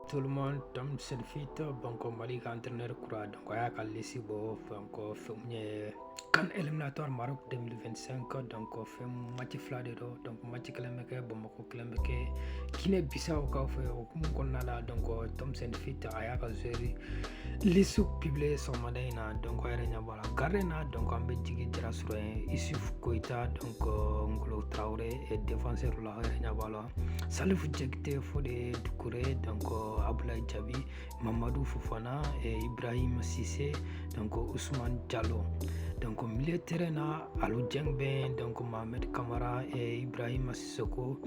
tout le monde Tom Saintfiet donc Mali ka entraîneur kura donc a y'a ka lisi bɔ donc fɛn mun ye CAN éliminatoire Maroc 2025 donc fɛn match fila de don donc match kelen bɛ kɛ Bamakɔ kelen bɛ kɛ Guinée Bissau kaw fɛ o hukumu kɔnɔna la donc Tom Saintfiet a y'a ka joueur lisi publier sɔgɔmada in na donc a yɛrɛ ɲɛ b'a la gardien na donc an bɛ Jigi Jara sɔrɔ yen Isuf Koyita donc Ngolo Traore et défenseur la a yɛrɛ ɲɛ b'a la Salifu Jakite Fode Dukure donc Abdoulaye Jabi Mamadou Fofana et Ibrahima Cissé donc Ousmane Diallo donc milieu terrain na Alou Dieng bɛ yen donc Mohamed Kamara et Ibrahim Sissoko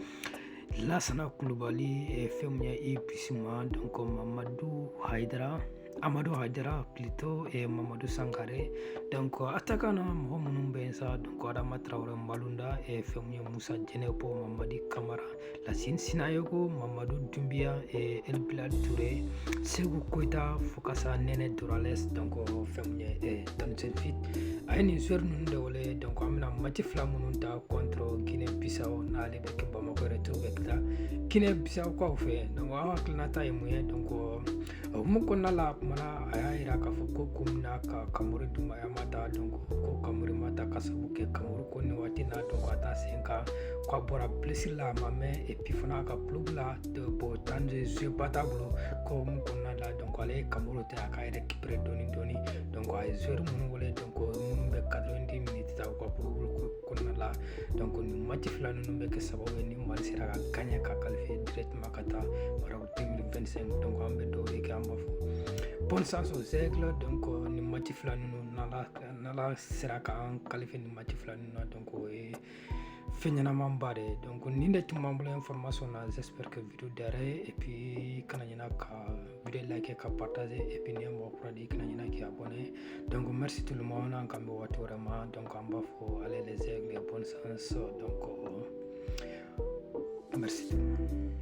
Lassana Koulibaly et fɛn mun ye Yves Bissouma donc Mamadou Haidara amadu hayidara plutôt et mamadou sangare donc attaquant na mɔgɔ minnu bɛ yen sa donc adama tarawele malunda et fɛn mun ye musa jɛnɛpo mamadi kamara lasin sinayoko mamadu dumbiya et elbilal ture seku koyita fo ka sa nɛnɛ dorgeles donc fɛn mun ye e Tom Saintfiet a ye nin joueur ninnu de wele donc an bɛna mati fila minnu tan contre guinée bissau n'aller bɛ kɛ bamakɔ retour bɛ kɛ guinée bissau kaw fɛ donc aw hakilinata ye mun ye donc hukumu kɔnɔna la kuma na a y'a yira k'a fɔ ko ko min na ka kamori dunbiya ma ta donc ko kamori ma ta k'a sabu kɛ kamori ko nin waati na donc a taa sen kan k'a bɔra blessure la a ma mɛn et puis fana a ka club la bon temps de jeuba t'a bolo ko hukumu kɔnɔna la donc ale ye kamori to a ka récupérer dɔɔni dɔɔni donc a ye joueur minnu wele donc minnu bɛ 90 minutes tan u ka clubw kɔnɔna la donc nin mati fila ninnu bɛ kɛ sababu ye ni mali sera ka gagner ka qualifier directement ka taa 2025 donc an bɛ dugawu de kɛ an b'a fɔ bonne chance aux aigles donc euh, nin mati fila ninnu n'ala sera k'an qualifier nin mati fila ninnu na donc o ye fɛn ɲɛnamanba de ye donc nin de tun b'an bolo information na j'espère que video diyara aw ye et puis kana ɲina ka video like k'a partager et puis n'i ye mɔgɔ kura de ye kana ɲina k'i abonné donc merci tout le monde an kan bɛ waati wɛrɛ ma donc an b'a fɔ allez les aigles bonne chance donc euh, merci tout le monde